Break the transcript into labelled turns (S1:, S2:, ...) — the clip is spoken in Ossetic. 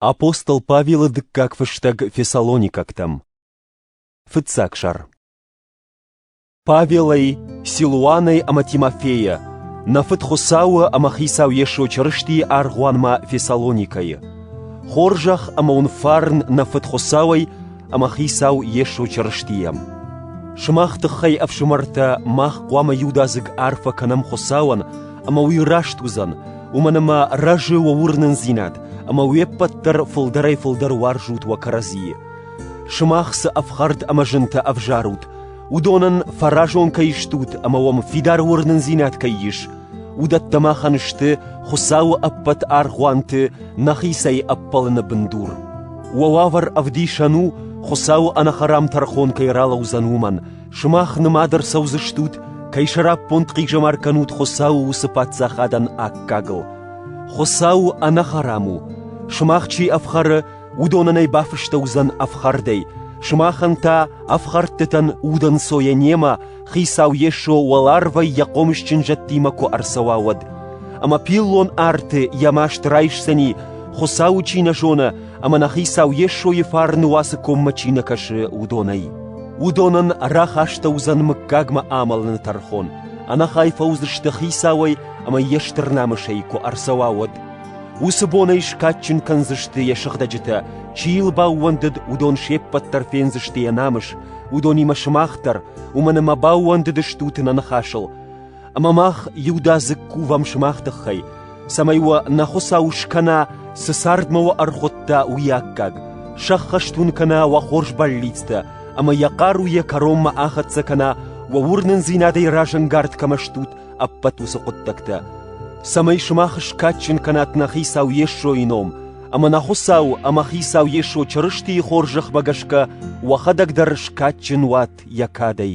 S1: Апостол Павелы дыккаг фыстӕг фессалоникӕгтӕм. Фыццаг сӕр. Павелӕй, Силуанӕй ӕмӕ Тимофейӕ, нӕ фыд Хуыцауы ӕмӕ Хицау Йесо Чырыстийы аргъуанмӕ Фессалоникӕйы. Хорзӕх ӕмӕ уын фарн нӕ фыд Хуыцауӕй ӕмӕ Хицау Йесо Чырыстийӕм. Сымах тыххӕй, ӕфсымӕртӕ, мах хъуамӕ иудадзыг арфӕ кӕнӕм Хуыцауӕн ӕмӕ уый раст уыдзӕн, уымӕн ӕмӕ рӕзы уӕ уырнындзинад, ӕмӕ уе ппӕт дӕр фылдӕрӕй-фылдӕр уарзут уӕ кӕрӕдзийы. Сымах цы ӕфхӕрд ӕмӕ зынтӕ ӕвзарут, уыдонӕн фӕразон кӕй стут ӕмӕ уӕм фидар уырнындзинад кӕй ис, уыдӕттӕ махӕн сты Хуыцауы ӕппӕт аргъуанты нӕхицӕй ӕппӕлыны бындур. Уӕ уавӕр ӕвдисӕн у, Хуыцауы ӕнӕхӕрам тӕрхон кӕй ралӕудзӕн уымӕн, Сымах нымад ӕрцӕудзыстут, кӕй сӕраппонд хъизӕмар кӕнут Хуыцауы уыцы паддзахадӕн аккагыл. Хуыцау ӕнӕхӕрам у, сымах чи ӕфхӕры, уыдонӕн ӕй бафыстӕуыдзӕн ӕфхӕрдӕй, сымахӕн та ӕфхӕрдтытӕн удӕнцойӕ немӕ Хицау Йесо уӕларвӕй йӕ хъомысджын зӕдтимӕ куы ӕрцӕуа, уӕд. Ӕмӕ пиллон арты йӕ маст райсдзӕни, Хуыцауы чи нӕ зоны, ӕмӕ нӕ Хицау Йесойы фарны уацы коммӕ чи нӕ кӕсы, уыдонӕй. Уыдонӕн рахӕстӕ уыдзӕн мыггагмӕ амӕлыны тӕрхон, ӕнӕхай фӕуыдзысты Хицауӕй ӕмӕ йе стыр намысӕй куы ӕрцӕуа, уӕд. Уыцы бонӕй скадджын кӕндзысты йӕ сыгъдӕджытӕ, чи йыл баууӕндыд, уыдон се ппӕт дӕр фендзысты йӕ намыс, уыдонимӕ сымах дӕр, уымӕн ӕмӕ баууӕндыдыстут нӕ ныхасыл. Ӕмӕ мах иудадзыг кувӕм сымах тыххӕй, цӕмӕй уӕ нӕ Хуыцау скӕна, цы цардмӕ уӕ ӕрхуыдта, уый аккаг, сӕххӕст уын кӕна уӕ хорз бӕллицтӕ ӕмӕ йӕ хъару йӕ кӕронмӕ ахӕццӕ кӕна, уӕ уырнындзинадӕй разӕнгард кӕмӕ стут, ӕппӕт уыцы хъуыддӕгтӕ. Цӕмӕй сымах скадджын кӕнат нӕ Хицау Йесойы ном, ӕмӕ нӕ Хуыцау ӕмӕ Хицау Йесо Чырыстийы хорз зӕхмӕ гӕсгӕ уӕхӕдӕг дӕр скадджын уат йӕ кадӕй.